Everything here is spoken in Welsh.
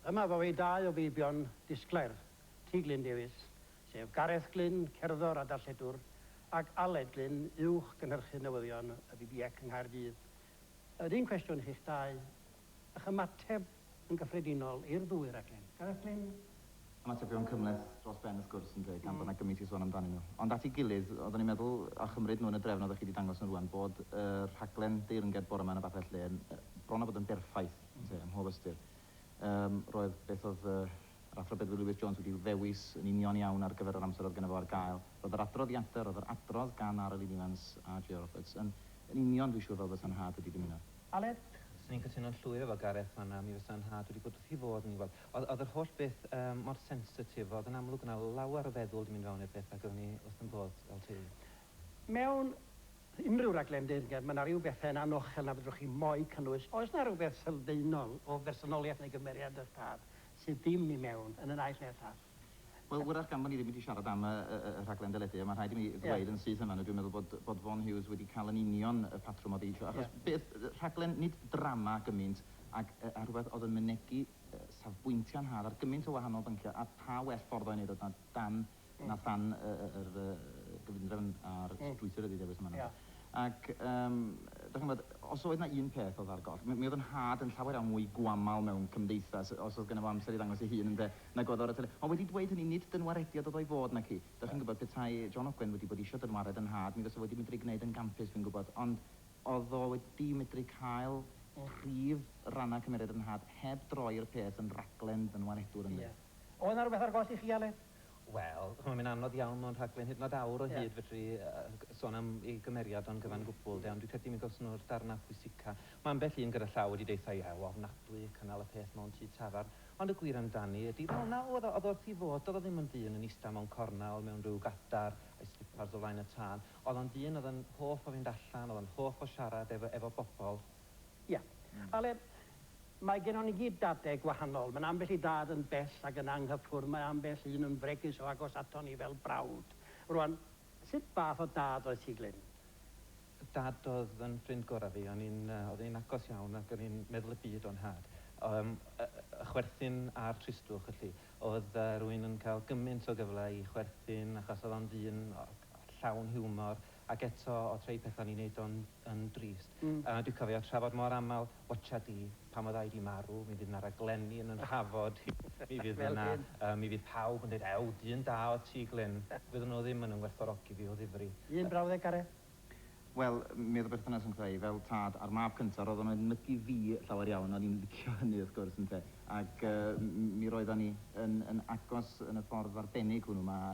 Yma fu ei dau o feibion disglair, Ti Glyn Davies, sef Gareth Glyn, cerddor a darlledwr, ac Aled Glyn, uwch gynhyrchydd newyddion y BBEC yng Nghaerdydd. Yr un cwestiwn i chi'ch dau, ych ymateb yn gyffredinol i'r ddwy raglen. Gareth Glyn. Ymatebion cymhleth dros ben wrth gwrs ynde, gan bod 'na gymaint i sôn amdanyn nhw. Ond at ei gilydd, oeddwn i'n meddwl, a chymryd nhw yn y drefn oeddech chi 'di dangos nhw rŵan, bod y rhaglen deyrnged bore 'ma yn y Babell Lên bron a bod yn berffaith. Yndi, ym mhob ystyr. Yym, roedd beth oedd yr Athro Bedwyr Lewis Jones wedi ddewis yn union iawn ar gyfer yr amser oedd gynno fo ar gael. Roedd yr adroddiadau, roedd yr adrodd gan Ara Lyn Evans a Jay Roberts yn yn union, dwi'n siŵr, fel bysa nhad wedi dymuno. Aled, 'swn i'n cytuno'n llwyr efo Gareth fan 'na, mi fysa nhad wedi bod wrth ei fodd yn ei weld. Oedd oedd yr holl beth yym mor sensitif, oedd yn amlwg o' 'na lawer o feddwl 'di mynd fewn i'r peth ac oeddwn i wrth 'y mhodd fel teulu. Mewn Unrhyw raglen deyrnged, mae 'na ryw bethau yn anochel na fedrwch chi mo'i cynnwys. Oes 'na rywbeth sylfaenol o bersonoliaeth neu gymeriad eich tad sydd ddim i mewn, yn y naill neu'r llall? Wel, wrach gan fo' ni ddim wedi siarad am y y y rhaglen deledu, ond mae'n rhaid i mi ddweud yn syth yn fan'na, dwi'n meddwl bod bod Vaughan Hughes wedi cael yn union y patrwm oedd ei isio, achos beth, rhaglen nid drama gymaint ag yy a rhywbeth oedd yn mynegi yy safbwyntiau'n nhad ar gymaint o wahanol bynciau, a pha well ffordd o ei wneud o na dan 'na phan yr gyfundrefn a'r strwythur wedi dewis yma nawr. Ac yym, dach chi'n gwybod, os oedd 'na un peth oedd ar goll, mi oedd 'yn nhad yn llawer iawn mwy gwamal mewn cymdeithas, os oedd gynno fo amser i ddangos ei hun ynde, nag oedd o ar y tele. Ond wedi dweud hynny, nid dynwarediad oedd o i fod, naci? Dach chi'n gwybod, petai John Ogwen wedi bod isio dynwared 'yn nhad, mi fase fo wedi medru gwneud e'n gampus, fi'n gwybod, ond oedd o wedi medru cael prif rannau cymeriad 'yn nhad heb droi'r peth yn raglen ddynwaredwr, ynde? Oedd 'na rywbeth ar goll i chi, Aled? Wel, ch'mo' mae'n anodd iawn mewn rhaglen hyd yn o'd awr o hyd fedru yy sôn am ei gymeriad o'n gyfan gwbwl 'de, ond dwi'n credu mi gawson nhw'r darna pwysica. Ma' ambell un gyda llaw wedi deutha i, ew, ofnadwy, cynnal y peth mewn tŷ tafarn, ond y gwir amdani ydi, wel, 'na oedd o, o'dd o wrth 'i fodd, do'dd o ddim yn ddyn yn ista mewn cornel mewn rhyw gadar a'i slipars o flaen y tân, o'dd o'n ddyn o'dd yn hoff o fynd allan, o'dd o'n hoff o siarad efo efo bobol. Ia. Aled, Mae gennon ni gyd dadau gwahanol. Mae 'na ambell i dad yn bell ac yn anghyffwrdd, mae ambell un yn fregus o agos aton ni fel brawd. Rŵan, sut fath o dad oedd ti, Glyn? Dad oedd yn ffrind gorau fi. O'n i'n, yy, oedd e'n agos iawn ac o'n i'n meddwl y byd o'n nhad. Yym, y, y chwerthin a'r tristwch, felly. Oedd, yy, rhywun yn cael gymaint o gyfle i chwerthin achos oedd o'n ddyn, o, llawn hiwmor ac eto o trei pethau o'n i'n neud o'n yn drist. Yy dwi cofio trafod mor amal, watcha di, pan fydda i di marw, mi fydd na raglenni yn 'y nhrafod i, mi fydd yna, yy, mi fydd pawb yn deud, ew, dyn da oedd ti Glyn. Fydden nhw ddim yn 'y ngwerthfawrogi fi o ddifri. Un brawddeg, Gareth? Wel, mi oedd y berthynas rhwngtha i, fel tad a'r mab cynta, roedd o'n edmygu fi llawer iawn, o'n i'n licio hynny wrth gwrs, ynte, ac, yy, m- mi roeddan ni yn yn agos yn y ffordd arbennig hwnnw, mae